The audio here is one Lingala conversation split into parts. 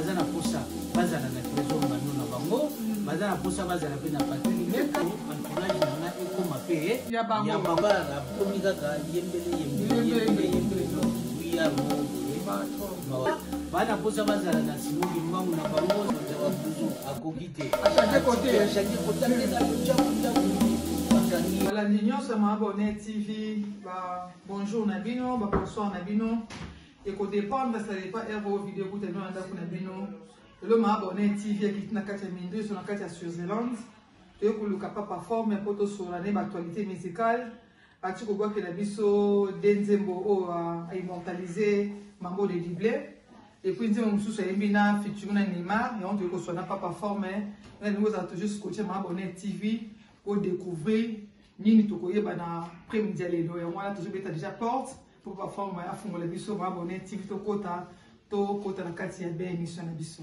baza na posa bazala na trésor bano na bango baza na posa bazala mpe na patini meka entourage na nga ekoma mpe ya babara akomi kaka yembele yembele yembele yembele no wiya mo bana posa bazala na simoki mbangu na bango oza babuzu akoki te balandi nyonso ya maabone tv ba bonjour na bino ba bonsoir na bino ekodépendre ça dépend heure oyo video ekuta bino na ndako na bino lelo maabone tv ekiti na kati ya minduso na kati ya switzerland toyei koluka papa forme mpo tosolola ne baactualité musicale Ati kobwakela biso de nzembo oyo a immortalise Mambo de Dible et puis nzembo mosusu ayembi na featuring na Neymar yango toyei koswa na papa forme na lingi ozala toujours scotche ma abonne TV po découvrir nini tokoyeba na prime dia lelo yango wana tozobeta déjà porte po papa forme afungola biso ma abonne TV tokota tokota na kati ya be émission na biso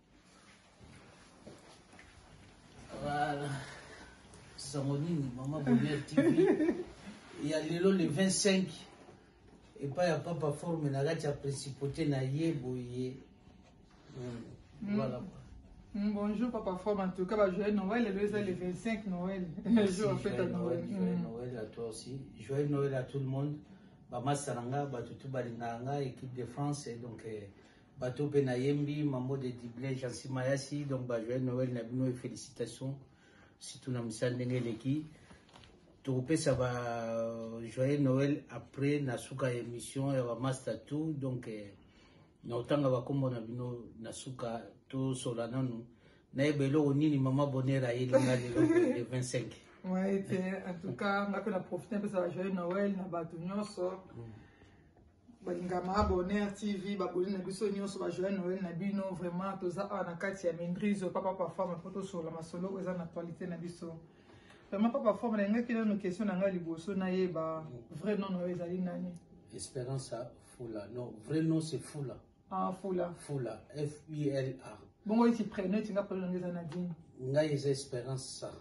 Voilà. Sango nini mama Bonheur TV ya lelo le 25 epai ya papa forme na kati ya principauté na ye boye hmm. Mm. voilà mm, bonjour papa forme en tout cas bah, joyeux noël lelo eza le 25 noël jour fête à noël joyeux mm. noël à toi aussi joyeux noël à tout le monde bamasa na nga bato tu balingaka nga équipe de france donc eh, Bato pe na yembi mambo de Dublin Jeancy Mayasi donc ba joyeux Noël na bino et felicitations surtout na misa ndenge eleki tokopesa ba joyeux Noël après na suka ya émission ya ba master tout donc eh, na otanga ba kombo na bino na suka to sola nanu nayeba eloko nini mama bonheur ayeli nga lelo le 25 Ouais, te, en tout cas, nga pe na profite mpesa ba joyeux Noël na bato nyonso. balinga ma abonner tv baboli na biso nyonso bajoye noel na bino vraiment toza awa na kati ya mindrizo papa pafama mpo tosolola masolo oyo eza na actualité na biso vraiment papa fama nalingaki nano question na ngai liboso nayeba vrai non na yo ezali nani esperance fula non vrai non se fula Ah, Fula. Fula, F-U-L-A. Bongo iti prénom iti nga prénom ngeza Nadine. Nga yeza Esperance sa.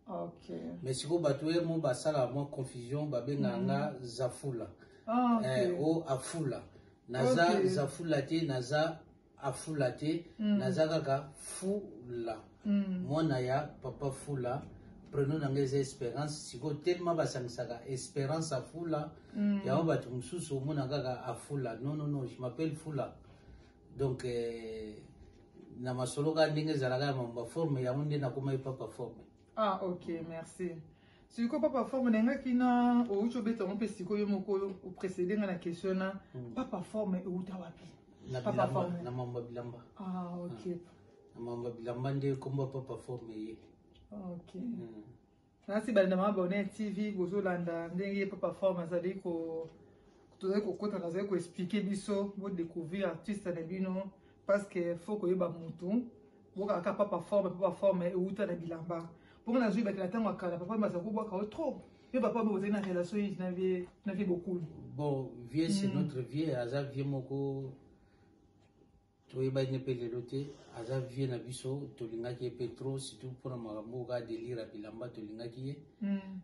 Ok. Mais siko bato ye mo basala mwa confusion babenga mm. nga Zafula. Ah, ok. Eh, o Afula. Naza okay. Zafula te, naza Afula te, mm. naza kaka Fula. Mwana ya papa fula prenom na nga eza esperance sikoyo tellement basangisaka esperance afula yango bato mosusu omona kaka afula non non non je m'appelle fula donc eh, na masolo kaka ndenge ezalaka ya mambo baforme yango nde nakomaki papa forme ah ok merci sikoyo papa forme na engaki na outi obeta yango mpe sikoyo yo moko oprecede nga na question na papa forme euta wapi na papa bilamba forme na mambo ya bilamba ah ok Mamba bilamba nde kombo papa forme ye. OK. Mm. Nasi banda ma abonné TV bozo landa ndenge papa forme azali ko tozali kokota nazali ko expliquer biso bo découvrir artiste na bino parce que faut koyeba mutu bokaka ka papa forme papa forme euta na bilamba mpo nga nazwi bakela ntango ya kala papa bazala kobwaka yo trop mpe papa bo bozali na relation nini na vie na vie bokulu bon vieux c'est mm. notre vieux aza vieux moko toyebaki ye mpe lelo te aza vie na biso tolingaki ye mpe trop surtout mpona makambo oyo kaka delire ya bilamba tolingaki ye mm.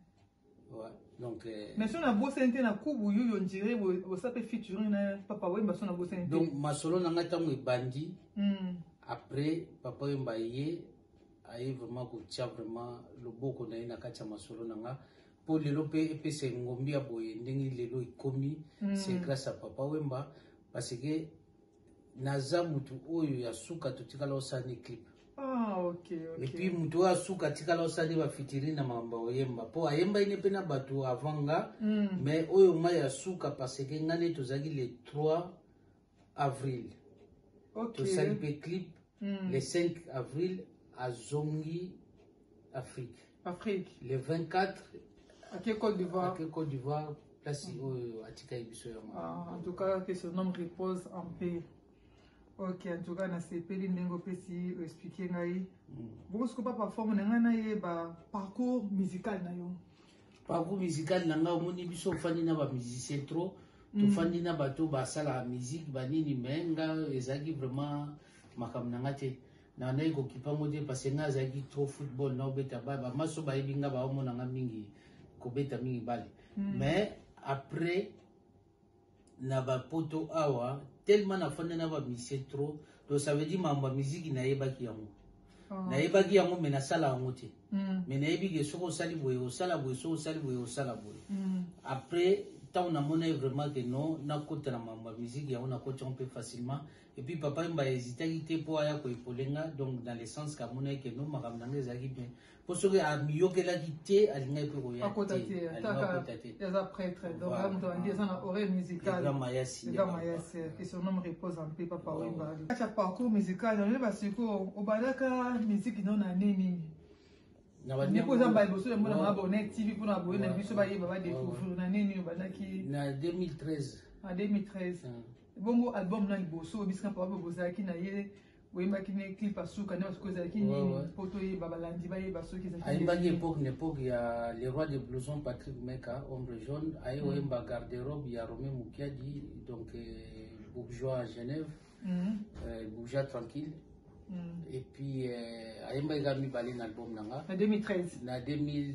donc euh, mais so nabosani te na kubu yuyo ndire bosa mpe featuring na papa wemba so nabosani te donc masolo na ngai ntango ebandi mm. après papa wemba ye aye vraiment kotia vraiment loboko na ye na kati ya masolo na ngai mpo lelo mpe epesa engombi ya boye ndenge lelo ekomi mm. c'est grâce ya papa wemba parce que Naza mutu oyo ya suka totikala osani clip. Ah, okay, okay. Et puis mutu oyo asuka atikala osani ba fitiri na makambo oyemba po ayembaki ne mpe na bato avant nga mm. mais oyo nga ya suka parce que nga ne tozalaki le 3 avril okay. tosali mpe clip mm. le 5 avril azongi afrique afrique le 24 ake côte d'ivoire ake côte d'ivoire place mm. oyo oh, atikaki biso yango ah, en tout cas que son homme repose en paix ok en tout cas nasepeli ndenge opesi oexplike ngai mm. bokosuko pa parforme na ngai nayeba parcours musical na yo parcours musical na ngai omoni biso ofandi na bamusicien trop mm. tofandi na bato basalaka musique banini mai nga ezalaki vraiment makambo na ngai te nandaki kokipa yango te parce ngai azalaki trop football na obeta bale bamaso bayebi ngai baomona ngai mingi kobeta mingi bale mm. mais après na ba poto awa tellement na fanda na ba misie trop donc ça veut dire mambo ya miziki nayebaki yango oh. nayebaki yango me nasala yango te mm. me nayebi ke soki osali boye osala boye soki osali boye osala boye mm. après ntango namonaki vraiment ke non nakota na mambo ya miziki yango nakoti yango mpe facilement epuis papa yemba ezitaki te mpo aya koepolenga donc dans le sens kamonaki ke non makambo na ngai ezalaki bien po soki amiyokelaki te alingaki mpe koyakota te alingakota te eza prêtre donc amoto andi eza na oreille musicalemayasi que son homme repose en paix papa wemba kati ya parcours musical yango nde basikoyo obandaka miziki no na nde nini ndeko oza mbala liboso yamona mwa bonnet tv mpona baboye na biso bayeba badécouvrir na nini obandaki na 2013 na 2013 bongo album na liboso obisika papa bozalaki na ye oyembaki ne clip ya suka nde basuka ezalaki nini mpo toyeba balandi bayeba soki ezalaki ayembaki epoque na epoque ya le roi de blouson patrick meka ombre jaune aye mm. oyemba garde robe ya rome mukiadi donc euh, bourgeois à genève mm. euh, bourgeois tranquille mm. et puis euh, ayembaki kaka mibale na album na nga na 2013 na 2013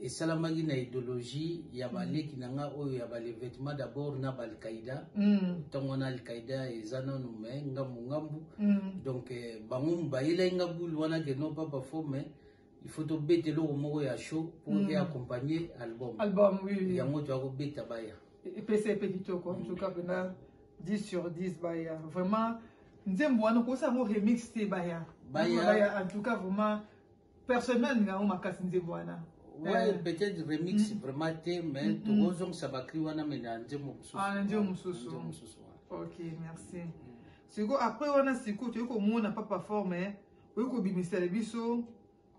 esalamaki na ideologie ya mm. baleki na nga oyo ya balevetement d'abord na baalkaïda ntango mm. wana alkaïda eza nanu me ngambu ngambu mm. donc eh, bango bayelaki nga bule wana ke non pas bafo mais il faut tobeta eloko moko ya show pour mm. eaccompagne album album oui, oui. yango toya kobeta baya epesa epe kitoko en tout cas pena 10 sur 10 baya vraiment nzembo wana okosa yango remix te baya baya en tout cas vraiment personne na linga ngo makasi nzembo wana ouais eh. peut-être remix mm. vraiment te mais mm, mm. tokozongisa bakri wana mais na nzembo mosusu ah na nzembo mosusu nzembo mosusu ok merci sikoyo après wana sikoyo toyei komona papa fort mais oyo kobimisela biso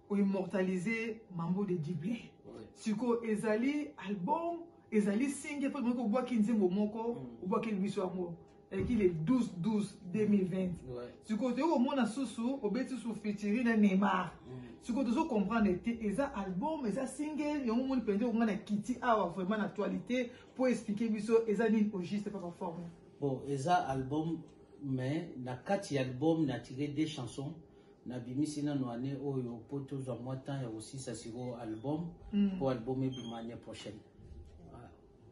oimmortalise mambo de dible sikoyo ezali album ezali singe mpo tomoki kobwaki nzembo moko obwakeli biso yango eleki le 12 12 2020 sikoyo toyei komona susu obeti susu fitiri na neymar mm. sikoyo tozo comprendre te eza album eza single yango moni mpenza okonga na kiti awa vraiment na actualité mpo explike biso eza nini au juste papa forme bon eza album mais na kati ya album na tire deux chansons nabimisi nano année oyo mpo tozwa mwa temps ya kosisa sikoyo album mpo mm. album ebima année prochaine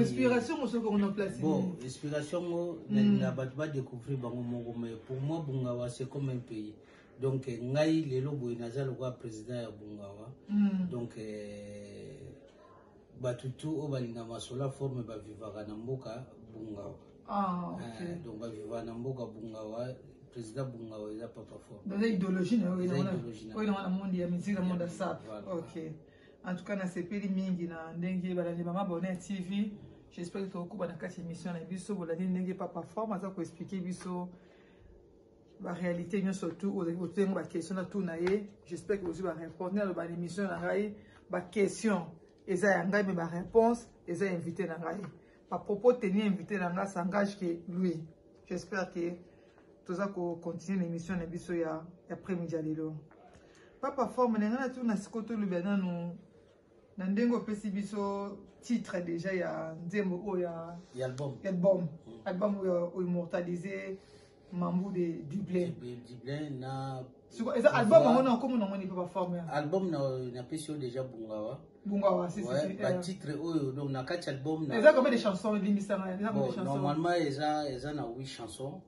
inspiration mosoki yango na place bon inspiration ngo hmm. na bato badécouvrir bango moko mais pour moi bungawa c'est comme un pays donc eh, ngai lelo boye naza lokola président ya bungawa hmm. donc eh, bato tu oyo balinga masola forme bavivaka na mboka bungawa ah, eh, donc bavivaka na mboka bungawa président bungawa eza papa forme eza idéologie na yo eza idéologie na yo na monde ya musique na monde ya sap ok En tout cas, na sepeli mingi na ndenge balandi mama Bonheur TV. J'espère que tokokuba na kati émission na biso bolandi ndenge papa forme aza ko expliquer biso ba réalité nyo surtout aux otengo ba question na tout na ye. J'espère que vous ba répondre na ba émission na ngai ba question eza ya ngai mais ba réponse eza invité na ngai. Ba propos tenir invité na ngai s'engage que lui. J'espère que toza ko continuer l'émission na biso ya après-midi ya lelo. Papa forme na ngana tuna siko to lobi nanu na ndenge opesi biso titre déjà ya nzembo oyo ya ya album ya album mm. album oyo immortaliser mambu de Dublin Dublin na siko eza album yango na komo na ngoni papa forme ya album na na pesi déjà bungawa bungawa si si ouais, ba euh. titre oyo donc na kati album na eza combien de chansons limbisa na eza combien de chansons normalement eza eza na 8 chansons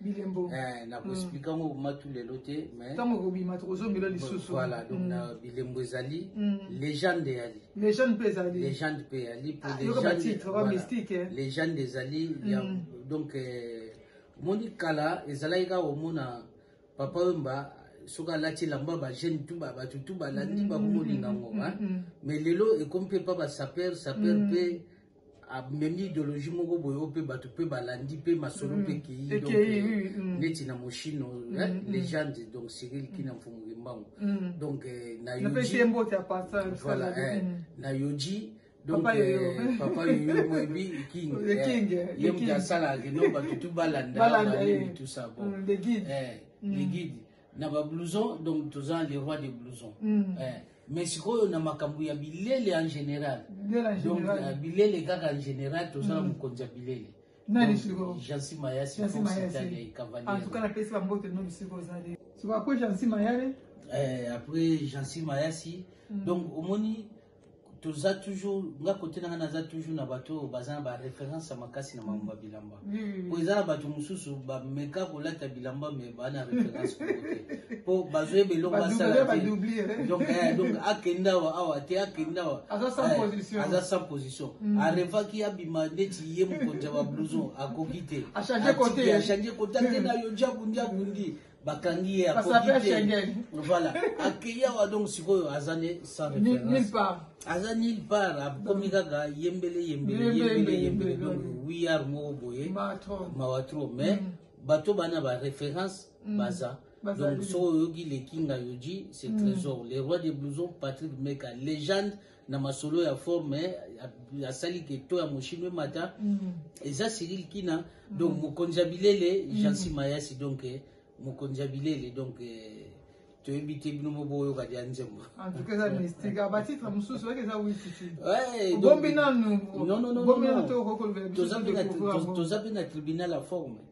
bilembo eh, na koexplike yango mm. matu lelo te ntango ekobima tokozongela lisusu voilà donc mm. na bilembo ezali mm. legende eyali legende mpe ezali legende mpe eyali po ah, mystique eh. legende ezali donc eh, omoni kala ezalaki kaka komona papa wemba soki alati elamba bajeune tu bato tu balandi bakomolinga ngo mais lelo ekomi mpe mpa basaper saper mpe amemi ideologie moko boye oyo mpe bato mpe balandi mpe masolo mpe mm. ekei donc euh, mm. neti na moshino mm, legende donc cyril kina mfumu kimbangu donc euh, na yoji voilà eh, na yoji donc papa yoyo euh, moyebi king ye moto asalaka no bato tu balanda tout ça bon eh, les guides na ba blouson donc toza le roi de blouson mm. eh, mais sikoyo na makambo ya bilele en général donc uh, bilele kaka en général toza na mm. mokonzi ya bilele nani sikoyo jansi mayasi foxitaliai cavalier en tout cas napesi bambote nomi sikoyo ozali sikoyo après jansi mayale eh, après jansi mayasi mm. donc omoni toza toujours nga kote na nga naza toujours na bato oyo baza na baréférence ya makasi na makambo ya bilamba hmm. po eza na bato mosusu bameka kolata bilamba me baa na référence kote po bazoyeba eloko basaladonc eh? eh, akenda awa awa te akenda awa aza sans eh, position hmm. arevaki abima neti ye mokonzi ya bablouson akoki te achange kote akenda yo njabu njabu ndi bakangi ye akoki te voilà akeyi awa donc sikoyo aza ne sans référence aza nulle part akomi kaka yembele yembele yembele yembele donc wiyar moko boye mawa trop mais mm. bato bana ba référence mm. baza donc soki oyoki lekinga yoji c'est mm. trésor le roi des blousons patrick meka légende na masolo ya forme eh, asali ke to ya moshino emata mm. eza cyril kina mm. donc mokonzi ya bilele mm. jean sima yasi donc eh, mokonzi ya bilele donc eh, toyebi te bino mo boyoka dia nzembo toza mpe na tribunal ya forme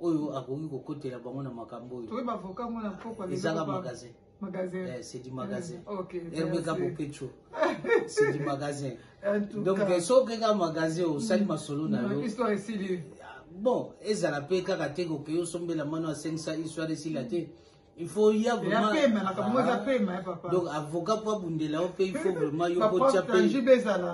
oyo akoki kokotela bango na makambo oyo ezaka magasin magasin eh, c'est du magasin mm, okay, erbeka bopecho c'est du magasin donc eh, so okeka magasin osali mm. masolo na yo ah, bon ezala mpe kaka te kokeyo osombela mano asengisa histoire esila te mm. il faut ya vraiment pema na kamwe za pema ya papa donc avocat pour bundela au pays il faut vraiment yo ko chape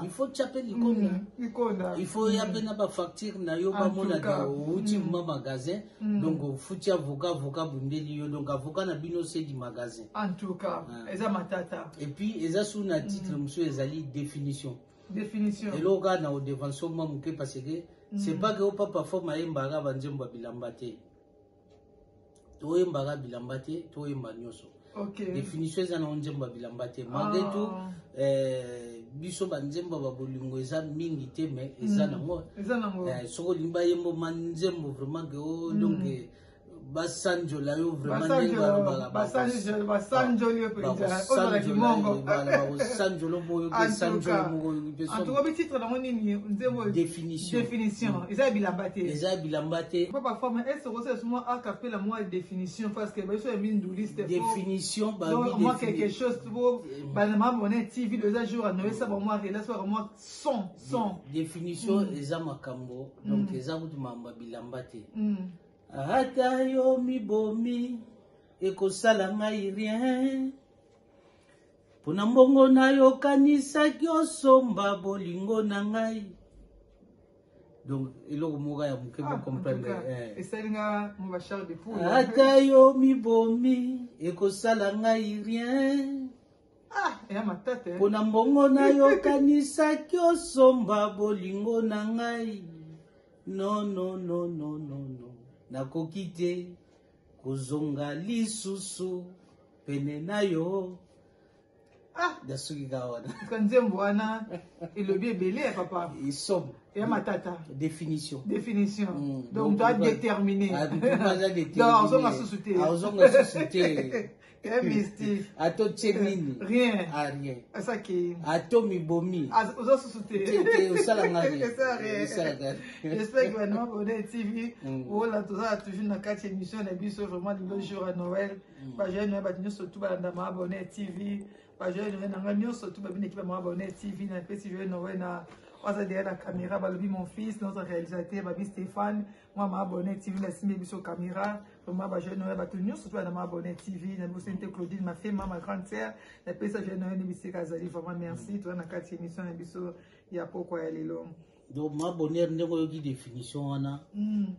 il faut chape likonda mm, likonda il faut ya bena ba facture na yo ba mona da uti mm. ma magasin mm. donc futi avocat avocat bundeli yo donc avocat na bino c'est du magasin en tout cas ah. eza matata et puis eza sous na titre monsieur ezali définition définition eloko kaka na odevanso mwa moke parce que c'est pas que opapa fo mayembaka banzembo ya bilamba te toyembaka bilamba te toyemba nyonso okay. définition eza na nzembo ya bilamba te malgré ah. tout eh, biso banzembo ba bolingo eza mingi te mais eza nango mm. eh, soki olingi bayembo ma nzembo vraiment ke o mm. donc eh, basanjola yo vraimentbasanjoli moko yo mpe sanjolo moko yo mpe definition definition mm. eza bilamba te eza bilamba te papa femme est ce que c'est moi a capella moi définition parce que biso ya minduliste définition ba donc moi quelque chose pour mm. ba maman on est TV deux jours no ça ba moi relation ba moi son son définition mm. eza makambo donc mm. eza kutu mamba bilamba te mm. ata yo mibomi ekosala ngai rien Mpo na mbongo na yo okanisaki osomba bolingo na ngai. Donc eloko moko ya moke ah, comprendre. Eh. Esali nga mon bachar de poule. Ata yo mibomi ekosala ngai rien. Ah, eya matata. Eh. Mpo na mbongo na yo okanisaki osomba bolingo na ngai. Non non non non non non. Nakoki te. kozonga lisusu pene na yo ah nasuki ka wana ka nzembo wana elobi ebele ya papa isomo ya matata définition définition mm, donc to adétermine azonga susu te azonga susu te Eh, mystique. Ato tchenini. Eh, rien. Ah, rien. Asa ki. Ato mibomi. Ozo susute. Tete, osala ngari. Esa rien. Osala ngari. J'espère que Banama Bonnet TV, mm. ola toza toujours na kati émission na biso vraiment le jour à Noël. Mm. Ba jeune ba nyonso tout balanda Mama Bonnet TV. Ba jeune na nga nyonso tout ba bine ki ba Mama Bonnet TV na pesi jeune Noël na oza derrière la caméra balobi mon fils notre réalisateur babi Stéphane mwa maabone tv nasimbi biso camera vraiment bajeune oyo bato nyonso toya na maabone tv na bibosani te claudine mafema ma grande sœur napesa jeune oyo nde bisika azali vraiment merci toya na kati ya émission na biso ya pokwa ya lelo donc maabonere ndenge oyoki définition wana hmm.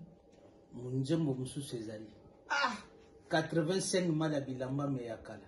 nzembo mosusu ezali 85 ah! mala bilamba me ya kala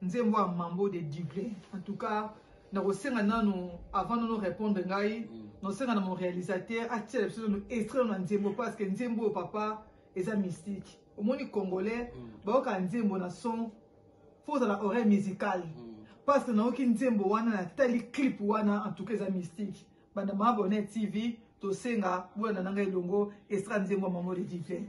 Nzembo ya Mambo de Dible. En tout cas, nakosenga nano avant nono répondre ngai mm. nosenga na mon réalisateur atiela biso no extrait na nzembo parce que nzembo papa eza mystique omoni congolais mm. bayoka nzembo na son fo ozala oreille musicale mm. parce que nayoki nzembo wana natali clip wana en tout cas eza mystique banda maabone tv tosenga bolanda na ngai elongo extrait nzembo ya mamode divin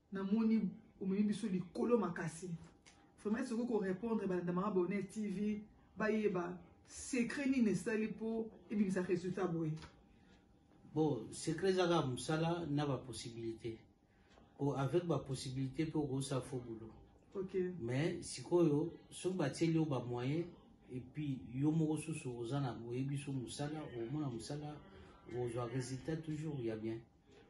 Na moni omemi biso likolo makasi. Vraiment soki ko répondre balanda mama Bonheur TV bayeba secret nini esali mpo ebimisa résultat boye. Bon, secret ezaka mosala na ba possibilité. Po avec ba possibilité mpe okosa faux boulot. Okay. Mais sikoyo soki batieli yo ba moyen et puis yo moko susu oza na oyebi so mosala omona mosala ozwa résultat toujours ya bien.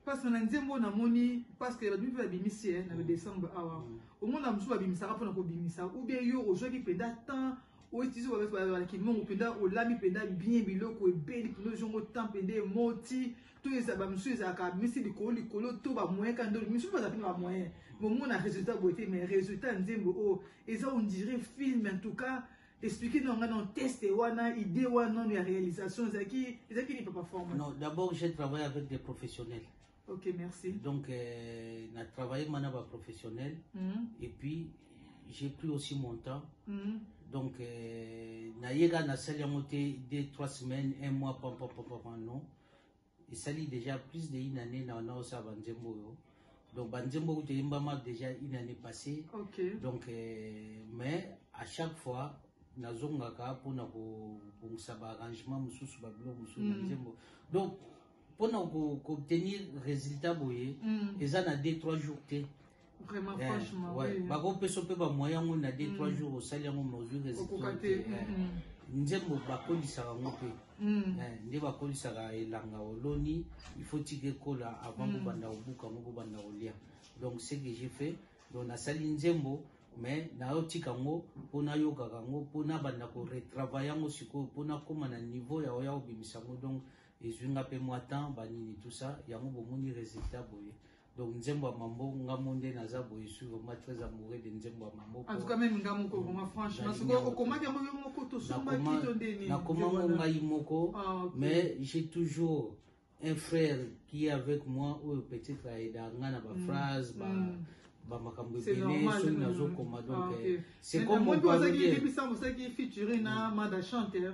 Pasteur na nzembo oyo namoni pasteur babi mpe babimisi eh, na le décembre awa mm. omona mosusu babimisaka mpona kobimisa ou bien yo ozwaki mpenza temps oitizo bakimongo mpenza olami mpenza bien biloko ebeli mpenza ozongo temps mpenza emoti to eza bamosusu ezalaka abimisi likolo likolo to bamoyen ka ndoli misusu baza mpe bamoyen bomona résultat boye te mais résultat nzembo oyo eza ondire film en tout cas expliquer non non test wana idée wana non ya réalisation ezaki ezaki ni papa forme non d'abord j'ai travaillé avec des professionnels ok merci donc euh, na travaillé mana ba professionnels mm -hmm. et puis j'ai pris aussi mon temps mm -hmm. donc euh, na yega na sali yango te deux trois semaines un mois pam pam pam pam non Esali dejà plus de une année na na osala ba nzembo oyo. Donc ba nzembo kutu eyembama dejà une année passée. Okay. Donc euh, mais à chaque fois nazongaka mpona kobongisa baarrangement mosusu babilo mosusu na mm. nzembo donc mpona koobtenir résultat boye mm. eza na deux trois jours te vraiment eh, franchement ouais. oui. bakopesa mpe bamoyen yango na de trois mm. jours osali yango mesure eokoka eh, mm. nzembo bakolisaka yango mpe mm. eh, nde bakolisaka elanga oloni il faut tika ekola avant mm. kobanda kobuka yango kobanda kolia donc ce que j'ai fait donc nasali nzembo mais nayotika yango mpo nayokaka yango mpo nabanda koretravaille yango sikoyo mpo nakóma na niveau ya oya kobimisa yango donc ezwi nga mpe mwa temps banini tout ça yango bomoni résultat boye donc nzembo ya mambo nga mo nde naza boye suis vraiment très amoureux de nzembo ya mambo en tout cas même nga moko vraiment franchement soko okomaki yango yo moko tosombaki to nde nini nakoma ngo ngai moko ah, mais j'ai toujours un frère qui est avec moi oyo peut-être ayeda nga na baphrase mm. ba, mm. bamakambo ebele soki nazokoma donc ah, eh, c'est comme ozaki featuring na mada chanteur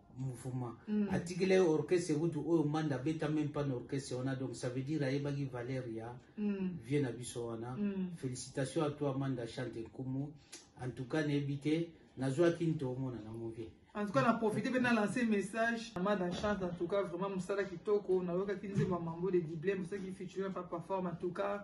mouvement mm. atikela ye orchestre kutu oyo manda abeta meme pas na orchestre wana donc ça veut dire ayebaki valeur ya mm. vie na biso wana mm. félicitation à toi manda chante nkumu en tout cas nayebi te nazwaki nto omona nango vie en tout cas na profite mpe na lance message na mada chance en tout cas vraiment mosala kitoko nayokaki nzembo ya mambo de dible mosalaki featuring papa forme en tout cas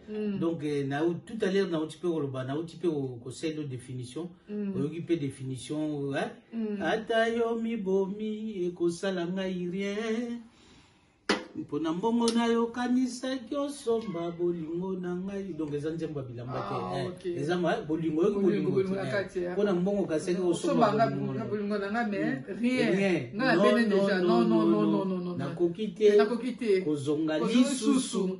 Mm. donc eh, na, tout à l'heure nauti mpe koloba nauti mpe kosendo définition mm. oyoki mpe définition eh? mm. ata yo mibomi ekosala ngai rien mpo na mbongo nayo okanisaki osomba bolingo na ngai donc eza nzembo ya bilamba te ah, eh, okay. eza eh, bolingo yoki bolingo eh. mpo na mbongo okasaki osombabolingo na ngai mais mm. rien ngai abene déjà non non non non non nakoki te kozonga lisusu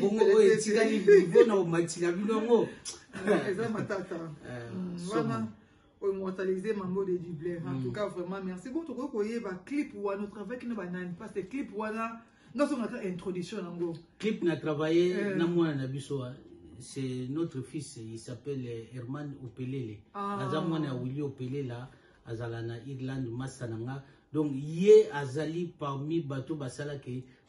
bongo oyo etikali nivo na omati na bino yango eza matata eh, mm, wana oyo mortalise mambo de dublin en mm. tout cas vraiment merci bon tokoki koyeba clip wana otravaki na banani parce que clip wana nazongaka introduction yango clip na travaille eh. na mwana na biso ah. c'est notre fils il s'appelle eh, herman opelele ah. aza mwana ya willi opelela azala na irlande masa na nga donc ye azali parmi bato basalaki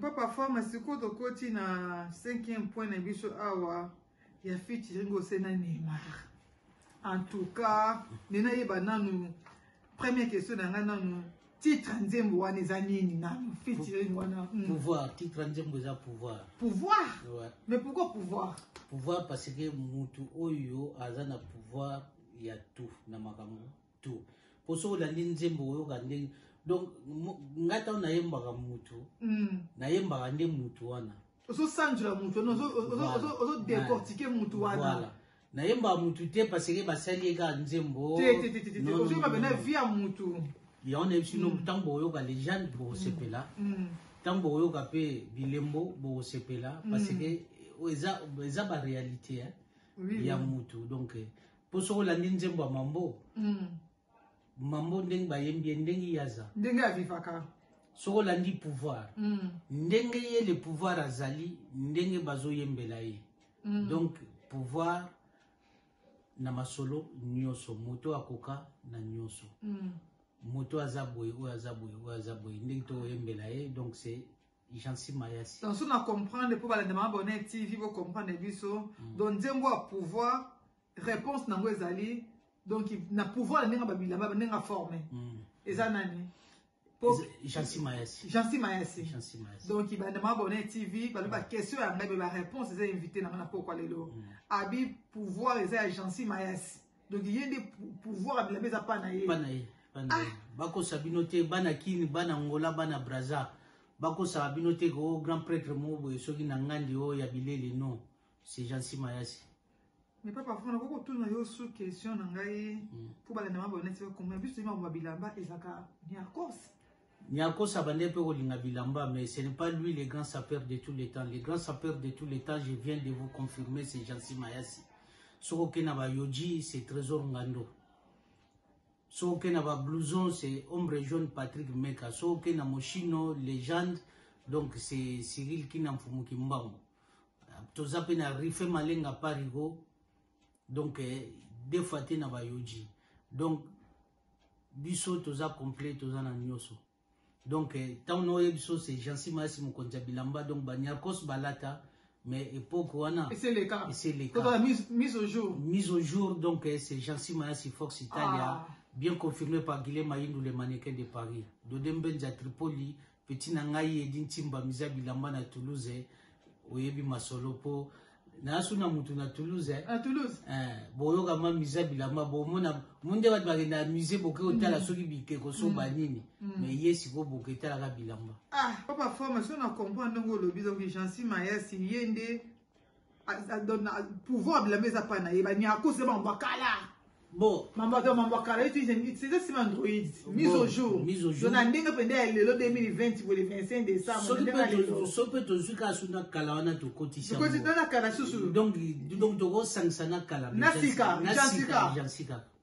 Papa Fama, sikoyo tokoti na cinquième point na biso awa ya featuring ose na Neymar. En tout cas, nena yeba nanu première question na ngai nanu titre nzembo wana eza nini nanu featuring wana hmm. pouvoir titre nzembo eza pouvoir pouvoir ouais. mais pourquoi pouvoir pouvoir parce que mutu oyo aza na pouvoir ya tout na makambo tout po soki olandi nzembo oyoka ndenge donc ngai ntango nayembaka mutu mm. nayembaka nde mutu wana ozosanjola mutu ozodecortike mutu wana nayembaka mutu te parce que basali ye kaka nzembo ozoyemba pena vi ya mutu yango nayebi sino ntango mm. bokoyoka legende bokosepela ntango mm. bokoyoka mpe bilembo bokosepela parce que eza baréalité ya mutu donc mpo soki olandi nzembo ya mambo mm. mambo ndenge bayembi ye ndenge ye aza ndenge avivaka soki olandi pouvoir mm. ndenge ye le pouvoir azali ndenge bazoyembela ye mm. donc pouvoir na masolo nyonso moto akoka na nyonso mm. moto aza boye oyo aza boye oyo aza boye ndenge tokoyembela ye donc c'est Jansi Mayasi. Donc, si na comprendre, pour balade ma bonne TV, vous comprenez biso. Mm. Donc, nzembo a pouvoir, réponse nango ezali. Donc, na pouvoir nenga babila, ba nenga formé. Mm. Eza nani? Jansi Mayasi. Jansi Mayasi. Jansi Mayasi. Donc, balade ma bonne TV, balade ba question ya ngabe ba réponse eza invité na mana pourquoi lelo. Mm. Abi pouvoir eza ya Jansi Mayasi. donc ye nde pouvoir ya bilamba eza pa na ye ah! bakosa bino te bana kini bana ngola bana braza bakosaka bino te ko oh, grand prêtre moko boye soki na ngandi oyo oh, ya bileli non c'est jean simayasi mais papa fona koko tuna yo sous question na ngai mpo hmm. balanda maboneti bakomona biso toyima bilamba ezalaka miarcos Niakosa bande pe kolinga bilamba mais ce n'est pas lui le grand sapeur de tous les temps. Le grand sapeur de tous les temps, je viens de vous confirmer, c'est Jansi Mayasi. Soko kena ba Yoji, c'est Trésor Ngando. Soko kena ba Blouson, c'est Ombre Jaune Patrick Meka. Soko kena Moshino, Légende, donc c'est Cyril Kinamfumu Kimbangu. Toza pe na Rife Malenga Parigo, donc eh, deux fois te na ba Yoji. Donc, biso toza complet toza na nyoso donc ntango na oyebi biso se jansi mayasi mokonzi ya bilamba donc banyarkos balata mais époque wana eseleka eseleka mise au jour mise au jour donc c'est jansi mayasi fox italia ah. bien confirmé par guilhem ayindu le mannequin de paris dodembenza tripoli Petit na ngai Edi Ntimba Miza Bilamba na Toulouse oyebi masolo po nasu na mutu na Toulouse eh? na Toulouse eh, boyoka ma Miza Bilamba bomona munde bato bakenda musée boke otala mm. soki bikeko so mm. ba nini mm. mais ye sikoyo boke etalaka bilamba ah papa forme so na comprendre ndenge olobi donc Jeancy Mayasi ye nde pouvoir bilamba eza pa na ye banyako se bango bakala bon mambato mambo akala ye tiza sima android mise au jour to na ndenge mpenza ya lelo 2020 boye le 25 décembrsoki mpe tozwi kaka su na kala wana tokotisatokotisa na kala susu donc tokosangisa na kala na sika jansika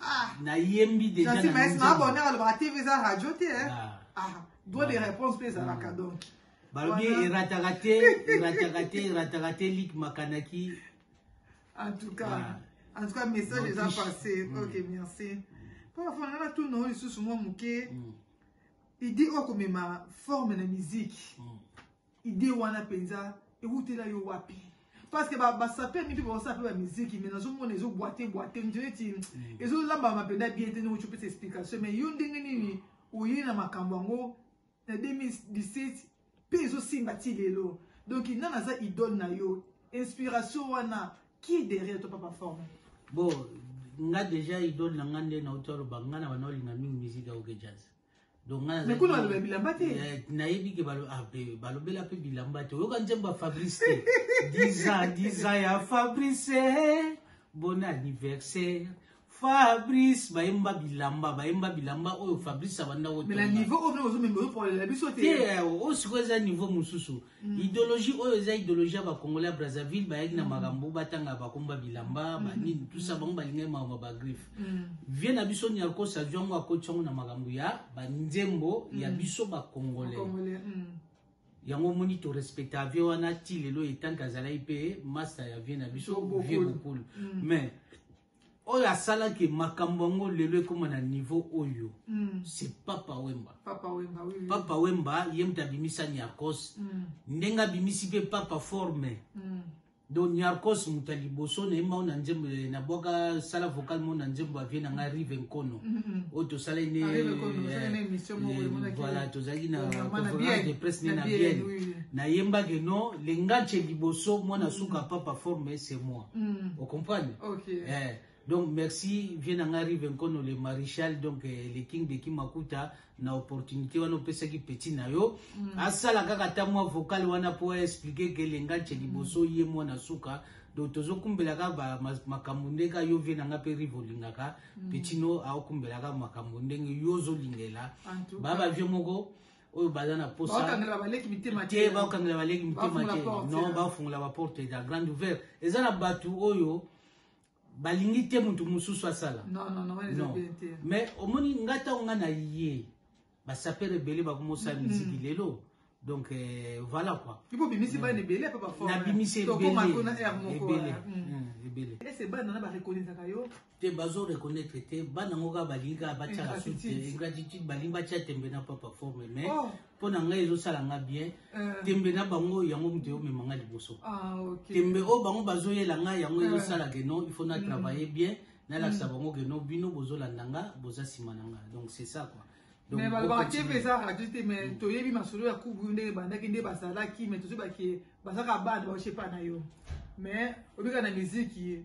Ah. nayembi dejaabonner alobaka tv eza radio te eh. ah. ah, droit de réponse mpe ezalaka donc balobi erataka te erataka te erataka te lik makanaki en tout cas en tout cas message eza passé mm. ok merci mpo afanda na tuna oyo lisusu mwa moke idi okomema forme na miziki mm. Idee wana penza ewutela yo wapi? parce que basape mipe baosala mpe bamiziki mai nazomona ezobwate bwate neti mm. ezolambama mpenza bien te ndenge opesa explication mai yo ndenge nini oye na makambo yango na 2017 mpe ezosimba ti lelo donc nani aza idole na yo inspiration wana qui derrière to papa forme bon nga déjà idole na nga nde nauti aloba nga na bana olinga mingi miziki ya oke jazz mekuna baloba bilamba te eh, nayebi ke ah, balobela mpe bilamba te oyoka nzembo ya fabrice te diza diza ya fabrice bon anniversaire fabrice bayemba bilamba bayemba bilamba oyo fabrice abanda oyo sikoyo eza niveau mosusu Mm. Ideologie oyo eza ideologie ya ba Congolais ya Brazzaville bayaki na mm. makambo batanga bakomba bilamba mm. banini tout ça bango balingaki makambo ba griffe vie na biso Niarcos azwi yango akoti yango na makambo ya banzembo ya biso ba Congolais yango omoni torespecta vie wana ti lelo etanke azalaki mpe masta ya vie na biso vie bokulu mais oyo asala ke makambo yango lelo ekoma na niveau oyo mm. c'est papa wemba papa wemba, oui, oui. papa wemba ye moto abimisa niarcos mm. ndenge abimisi mpe papa forme mm. donc niarcos moto ya liboso na ye mao na nzembo eh, nabwaka sala vocal mao na nzembo avie na ngai rive nkono mm -hmm. oyo tosalai ne ah, eh, voilà tozalaki na conférence de presse ne na biene nayembaki no lengace liboso mwana suka papa forme c'est moi mm. ocomprendre okay. eh. donc merci vie na ngai rive nkono le maréchal donc eh, le king de kimakuta na opportunité wana opesaki petit na yo mm. asala kaka ata mwa vocal wana mpo aexplike ke elenga nce liboso mm. ye mwana suka donc tozokumbelaka makambo nde ka yo vie na ngai mpe rive olingaka mm. petit no aokumbelaka makambo ndenge yo ozolingela baba vie moko oyo baza na posa bakangela baleki mitema te bakangela baleki mitema te non bafungola baporte ya grande ouvert eza na bato oyo balingi te moto mosusu asala mais omoni nga ntango nga na ye basapere ebele bakomosala mm-hmm. miziki lelo donc euh, voilà quoi ipo bimisi bana ebele ape bafornabimisi ebele ebele ebele ese bana na barekonisaka yo te bazo reconnaître te bana ngo kaka balingi kaka batyaka sute ingratitude balingi batya tembe na papa forme mais oh. mpo na ngai ezosala nga bien euh. tembe na bango yango moto eomema nga liboso ah, tembe oyo oh, bango bazoyela nga yango euh. ezosala ke non il faut na mm. travailler bien nalakisa mm. bango ke non bino bozolanda nga boza nsima na nga donc c'est ça quoi mais balobaka te mpe eza radio te mais mm. toyebi masolo ya kubu ndenge ebandaki nde bazalaki mais tozoyebaki bazaka bana baosepa na yo mais obika na miziki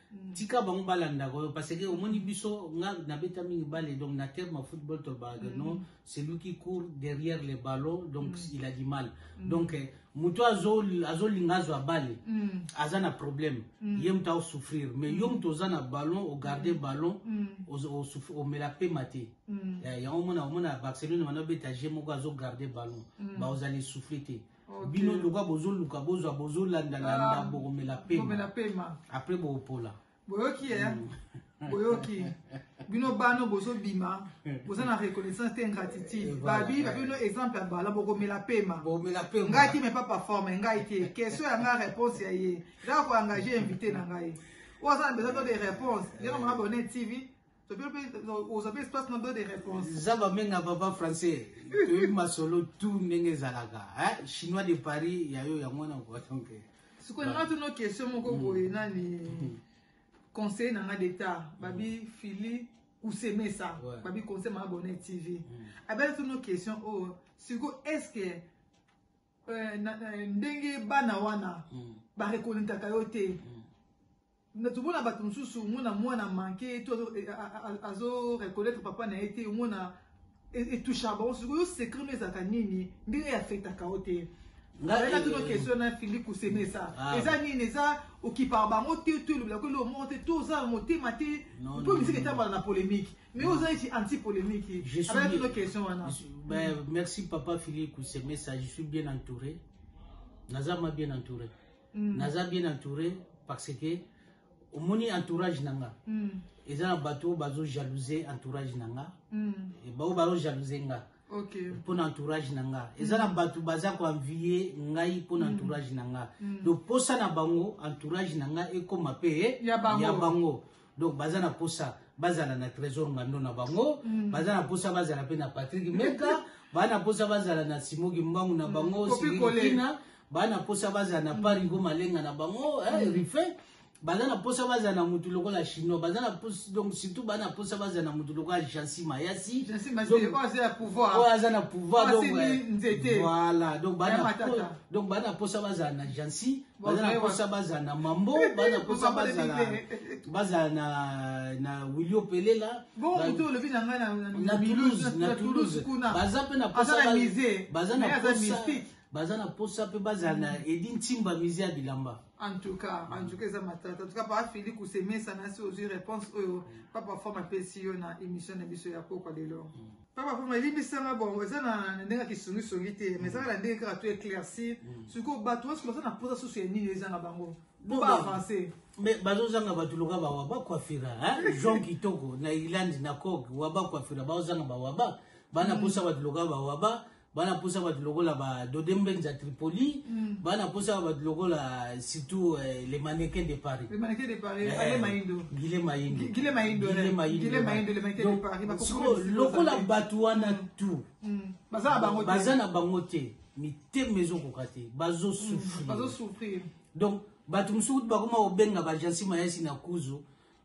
tika bango balandaka oyo parce que omoni biso nga nabeta mingi bale donc na terme ya football tolobaka mm. non celui qui court derrière le ballon donc mm. il a du mal mm. donc eh, moto azolinga azwa bale mm. aza na problème mm. ye moto aosouffrir mais mm. yo moto oza na ballon ogarde mm. ballon mm. omela pema te mm. eh, yango omona omona barcelone wana obeta je moko azogarde ballon mm. baozala esouffle te okay. bino lokola bozoluka bozwa bozolanda landa um, bokomela pema apres bokopola boyoki ye eh? mm. boyoki bino bano bozobima boza na reconnaissance te ingratitude babi babi bino exemple ya bala bokomela pema ngai te me papa forme ngai te question ya ngai réponse ya ye eza koengage invité na ngai oyo aza na besoin to de réponse ndenge mama bone tv zaba menga papa français toyebi masolo tout ndenge ezalaka chinois de paris ya yo yango na donc sikoyo nanga tono question moko mm. boye nani mm. conseil nanga d'etat babi mm. fili kusemesa babi conseil ma abonne tv abele tono question oyo oh, sikoyo est ce que euh, ndenge bana wana barekonetaka yo te na tomona bato mosusu omona mwana manke ye to azo reconnaître papa na ye te omona etouchaka bango sikoyo secret no ezalaka nini ndenge eafektaka yo te ngai tuna question na fili kosemesa eza nini eza okipaka bango te to elobela ko eloko moko te to oza na motema te mpo misiki etambala na polémique mais oza neti anti polémique abaya tuna question wana merci papa fili kosemesa je suis bien entouré naza ma bien entouré mm. naza bien entouré parce que omoni entourage na nga mm. eza na bato oyo bazo jalouse entourage na nga mm. baoyo bazo jalouse nga okay. mpo na entourage na nga eza na bato baza koenvie ngai mpo na mm. entourage na nga mm. donc mposa na bango entourage na nga ekóma mpe ya bango donc baza na posa bazala na trésor ngando na bango mm. baza na posa bazala mpe na patrik meka baa na posa bazala na simo kimbangu na bango mm. silikina baa na posa bazala na mm. parigo malenga na bango eh, mm. rife baza na posa bazala na motu lokola chinois baza na posa donc surtout baa na posa bazala na motu lokola jansi mayasi oyo aza na pouvoir donc eh, voilà donc baa na posa bazala na jansi baza na mposa bazala na mambo baza na mposa bazala na na wilio pelela na toulouse na toulouse baza mpe na mposa baza na mposa baza na mposa mpe bazala na mm. edi ntimba mise ya bilamba en tout cas en tout cas eza matata en tout cas papa fili kusemesana si ozwi réponse oyo papa forme apesi yo na émission na biso ya kokwa lelo mm. papa po malimbisa nga bongo eza na ndenge ya kisongisongi te mais ezaka na ndenge kaka to éclaircir mm. sikoyo bato nyonso baza na mposa susu ya nini ezanga bango po baavance mais bazozanga bato loka bawaba kwafira jean kitoko na irlande na coke waba kwafira bazozanga bawaba bana mposa mm. bato loka bawaba bana posa bato lokola ba dode mbenza tripoli mm. bana posa bato lokola surtout eh, le mannequin de paris le mannequin de paris eh, ale maindo gile maindo gile maindo gile maindo gile maindo le mannequin de paris ba ko lokola bato wana mm. tout mm. baza na bango te baza na bango te mitema ezokoka te bazo mm. souffrir bazo souffrir donc bato mosusu bakoma kobenga bajansi mayasi na kuzu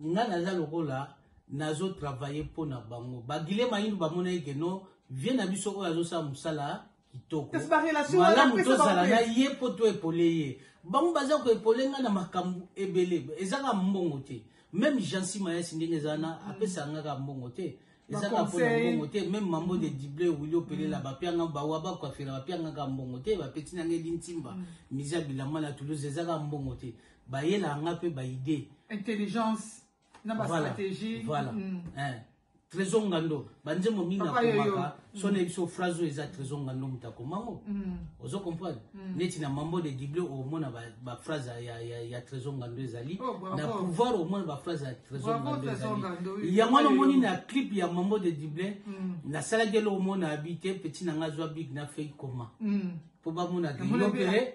Nga naza lokola nazo travailler mpo na bango. Bagile Maindu bamonaki ke no vie na biso oyo azosala mosala kitoko malamu tozala na ye mpo to epole ye bango baza koepole ngai na makambo ebele ezaka mbongo te meme jansi mayasi ndenge eza na mm. apesa nga ka mbongo te ezaka mpo na mbongo te meme mambo de dible wili opelela mm. bapianga bawa bakwafela bapianga ka mbongo te bapeti na ngai lintimba mm. miza bilama na toulouse ezaka mbongo te bayela nga pe ba idée intelligence na ba voilà, stratégie voilà mm. eh. trésor ngando banzembo mingi nakomaka so na biso phrase oyo eza trésor ngando moto akoma yango mm. ozo comprendre mm. neti na mambo de dible omona baphrase ya, ya, ya trésor ngando ezali oh, na pouvoir omona baphrase ya trésor ngando ezali yango wana omoni na clip ya mambo de dible mm. nasalaki eloko omona abi te peti na ngai azwa big na fei koma mpo bamona grilope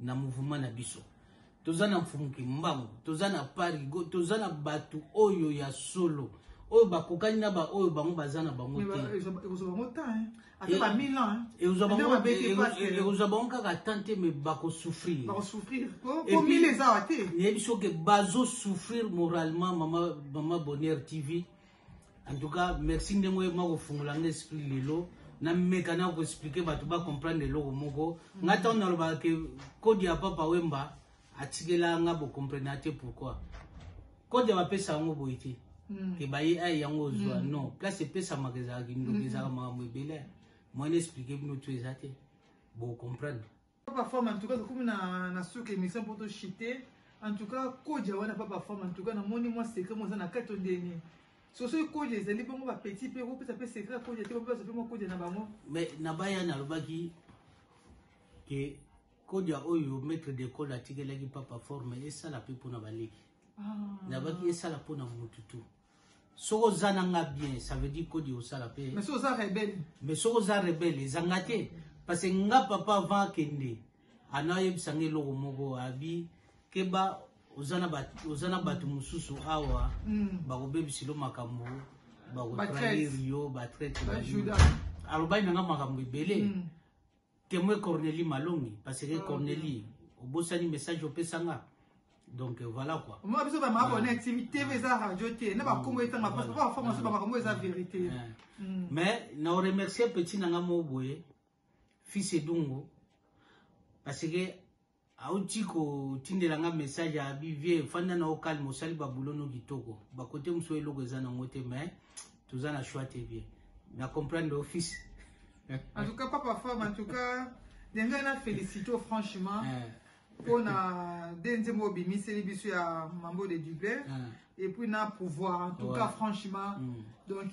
na mouvement na biso toza na mfumu kimbangu toza na parigo toza na bato oyo ya solo oyo bakokani na baoyo bango baza na bango teekozwa bango kaka tan te mai bakosouffrir nayebi soki bazosouffrir moralement mama bonheur tv En tout cas, merci ndenge oyema kofungola nga esprit lelo nameka na koexplike bato bacomprendre eloko moko mm. nga ntango nalobaka ke kode ya papa wemba atikela nga bocomprena te pourquoi kode bapesa yango boye te mm. ke baye ai yango ozwa mm. non place epesamaka ezalaka kindoki ezalaka makambo ebele moyen explike bino to eza te bocomprendre Papa femme en tout cas tokomi na na suka émission pour to chiter en tout cas koja wana papa femme en tout cas namoni mwa secret moza na kati ondeni soso ekoja ezali bongo bapetit mpe kopesa mpe secret ya koja te bape bazo mpe mwa koja na bango mais na bayani alobaki ke koja oyo maître d'école atikelaki papa forme esala mpe mpona baleki ah. nabaki esala mpona motu tu soki oza na nga bien ça veut dire kodi osala mpe mais soki oza rebele mais soki oza rebele ezanga te parce que nga papa avant akende ana oyebisa nga eloko moko abi keba oza na bato mosusu awa mm. bakobebisilo makambo bakotrahir yo batraite alobaki na nga makambo ebele mm. Temoin Cornelie Malongi parce que Cornelie obosani message opesa nga donc voilà quoi moi biso ba mabone na timi tv eza radio te na ba kombo etanga parce que ba forme so ba makambo eza vérité mais na remercier petit nanga mo boye fils edungo parce que auti kotindela nga message ya abi vie fanda na yo calme osali babulo no kitoko bakote mosusu eloko eza nango te mais toza na choix te vie na comprendre office en tout cas papa femme en tout cas denga na félicite franchement eh. mpo na nde nzembo obimiseli biso ya mambo de dublin eh. et puis na pouvoir en tout cas franchement mm. donc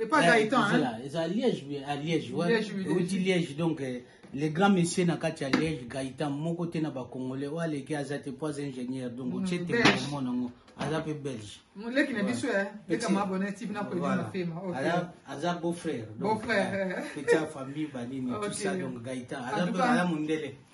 Et pas Gaëtan, hein? C'est à Liège, oui, à Liège, ouais. Liège, oui, Liège. Liège, donc, euh, le grand monsieur na kati ya Liège, Gaëtan, moko te na ba Congolais, oyo aleki aza te po aza ingénieur, donc mm, otie te moko nango, aza pe belge. Moleki na biso, hein? Leka ma abonne, tipi na koyeba na fema, ok. Aza, aza beau-frère. Beau-frère. Euh, petit famille, banini, tout ça, donc Gaëtan. Aza pe, aza mundele.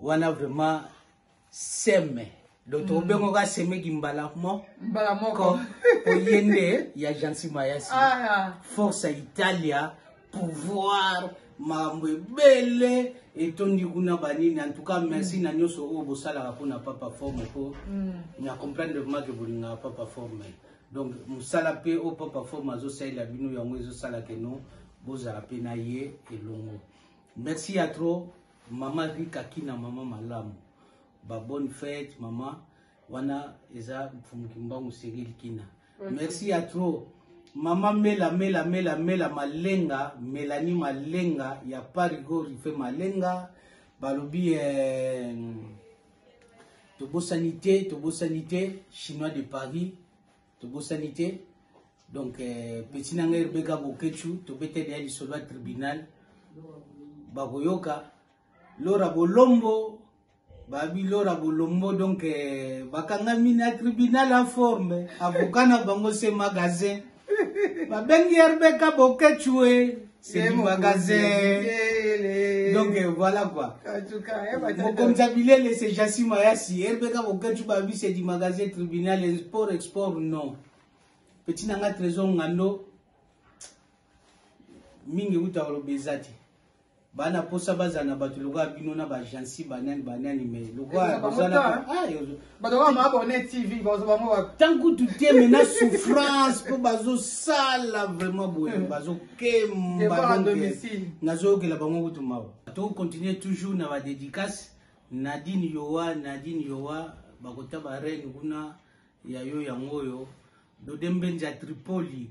wana vraiment seme donc tokobenga mm. ka semeki mbala mo mbala moko oye nde ya jansi mayasi ah, force ya italia pouvoir makambo ebele etondi kuna banini en tout cas merci mm. na nyonso oyo bosalaka mpona papa forme po mm. na comprendre vraiment ke bolingaka papa forme donc mosala mpe oyo papa forme azosalela bino yango ezosala keno bozala mpe na ye elongo merci ya trop Maman Rika Kina, maman malamu. Ba bonne fête, maman. Wana eza mfumu kimbangu Cyril Kina. Mm. Merci à trop. Maman Mela Mela Mela Mela Malenga, Melanie Malenga, ya Parigo Rife Malenga, balobi eh, tobosani te, tobosani te, Chinois de Paris. tobosani te donc eh, petit na ngai rebeka bokechu tobeteli ya lisolo ya tribunal bakoyoka lora bolombo babi lora bolombo donc eh, bakangami na tribunal en forme avocat na bango se magasin babengi rebeka bokechu e eh. Sebimaka ze. Donc euh, voilà quoi. Eh, Mokomza Bilele c'est Jassi Mayasi. Erbeka Boketu Babi c'est du magasin tribunal sport export non. Petit nanga trésor ngando. Mingi uta oloba eza te. bana mposa bazala na bato lokola bino na bagensi banani banani mai lokola bozala bato kaka maabone tv bazo bango wapi tant kutu te me na souffrance mpo bazosala vraiment boye hmm. bazokemba nazoyokela bango kutu mawa tokocontinue toujours na badédicace nadine yowa nadine yowa bakota bareine kuna ya yo yango oyo dodembenza tripoli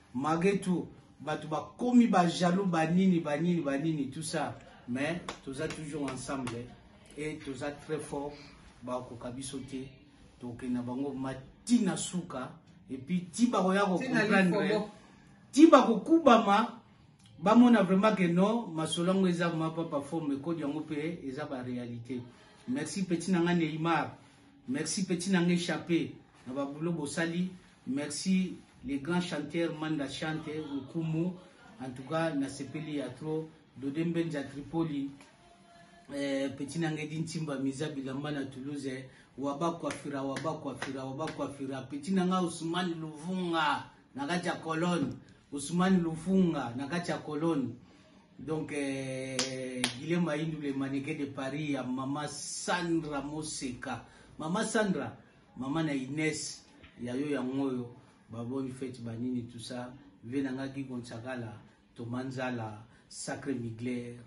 malgré tout bato bakomi bajaloux banini banini banini tout ça mais toza toujours ensemble et toza très fort bakokoka biso te tokende na bango mati na suka epuis ti bakoya kocomprendre ti bakokubama bamona vraiment ke no masolo yango eza vraiment papa forme ekodi yango mpe eza baréalité merci petit na ngai neymar merci petit na ngai chape na babulo bosali Merci le grand chanteur Manda Chante Nkumu. En tout cas, na sepeli ya trop. Dode Mbenza Tripoli. Eh, petit Nangedi Ntimba Miza Bilamba na Toulouse. Eh. Waba Kwafira, Waba Kwafira, Waba Kwafira. Petit Nanga Ousmane Luvunga. Na kati ya colonne. Ousmane Lufunga. Na kati ya colonne. Donc, eh, Guilhem Aïndou, le mannequin de Paris, ya Mama Sandra Moseka. Mama Sandra, Maman na Ines ya yo yango oyo ba bonne fête ba nini tout ça vie na nga Guy Gonzagala Thomas Nzala Sacré Migler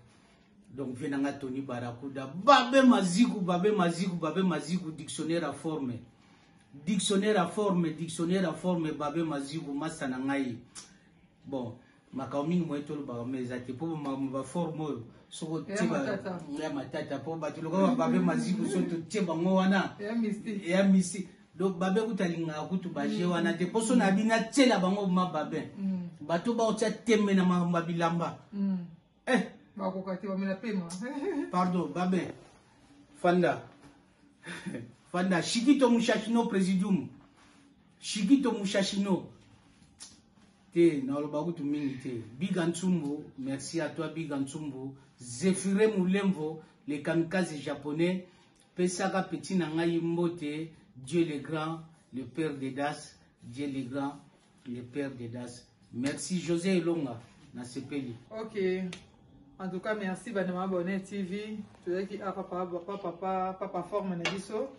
donc vie na nga Tony Barakuda babe maziku babe maziku babe maziku dictionnaire à forme dictionnaire à forme dictionnaire à forme babe maziku masta na ngai bon makambo mingi moye tolobaka yango eza te mpo makambo baforme oyo soko ya matata mpo bato lokola bababe maziku so totie bango wana ya misi donc babe kuta alingaka kutu baje mm. wana te mpo so na bino atiela bango ma babe mm. bato baotya tembe na makambo ya bilamba mm. eh bakoka te bamela pema pardon babe fanda fanda shikito mushashino presidium shikito mushashino te naloba kutu mingi te biga nsumbu merci à toi biga nsumbu zefire mulemvo le kamikaze japonais pesaka petit na ngai mbote dieu le grand le père de das dieu le grand Le père de Das. Merci José Elonga, nasepeli. Ok. En tout cas, merci bana mabonne TV. Tozaki a ah, papa papa papa papa forme na biso.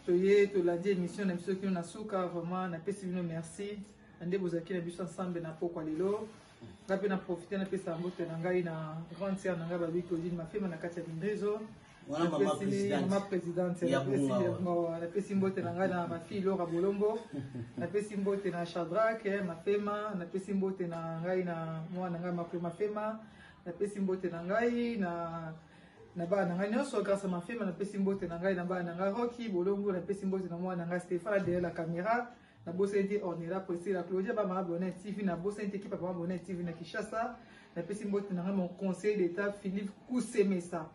Toye tolandi émission na biso kino na suka vraiment na pesi bino merci. Ande bozaki na biso ensemble na pokwa lelo. Ngape na profiter na pesa mbote na ngai na grande sœur na ngai babi Claudine Mafema na kati ya Bindezo. Mm -hmm. wana mama presidente ya bongawa napesi mbote na ngai na mafi lora bolombo napesi mbote na shadrake eh, mafema napesi mbote na ngai na mwana ngai makwe mafema napesi mbote na ngai na na bana na ngai nyonso grâce mafema napesi mbote na ngai na bana na ngai roki bolombo napesi mbote na mwana na ngai stefana derrière la caméra nabosani te ornela priscilla claudia ba mama bonnet tv nabosani te ekipa mama bonnet tv na kinshasa napesi mbote na ngai mon conseil d'état philippe kusemesa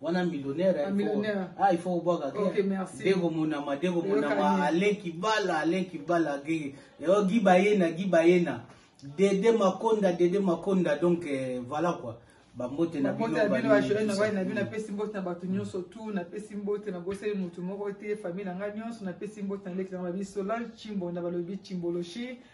wana millionnaire ah, millionnaire ah il faut obwaka ke okay, merci deko monama deko monama aleki bala aleki bala ke yo giba yena giba yena dede makonda dede makonda donc eh, voilà quoi bambote na bino na bino napesi mbote na bato nyonso tu napesi mbote na boseli motu moko te famille na ngai nyonso napesi mbote na leki na ngai babi solange cimbonda balobi cimboloshi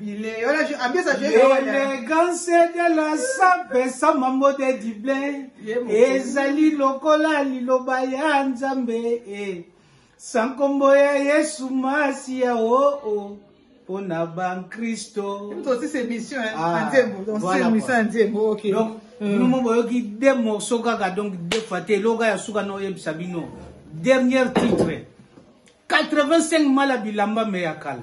L'élégance de la sape sa mambo de dible ezali lokola liloba ya Nzambe e sa nkombo ya Yesu Masiya o oh, o oh, mpo na bankristo. Ah, donc bino mo boyoki de morceau kaka donc de fois te eloko ya suka na oyebisa bino dernier titre 85 mala bilamba me ya kala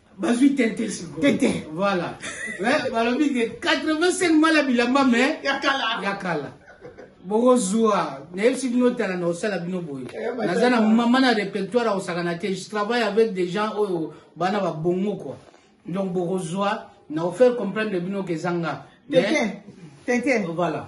bazwi tenten sikoyo tenten voilà balobi ke 85 mala bilamba me ya kala ya kala bokozwa nayebisi bino tala na osala bino boye eh, naza na mama na répertoire ya kosakana te je travaille avec des gens oyo oh, bana babongo kua donc bokozwa na ofaire comprendre bino ke ezanga tenten tenten voilà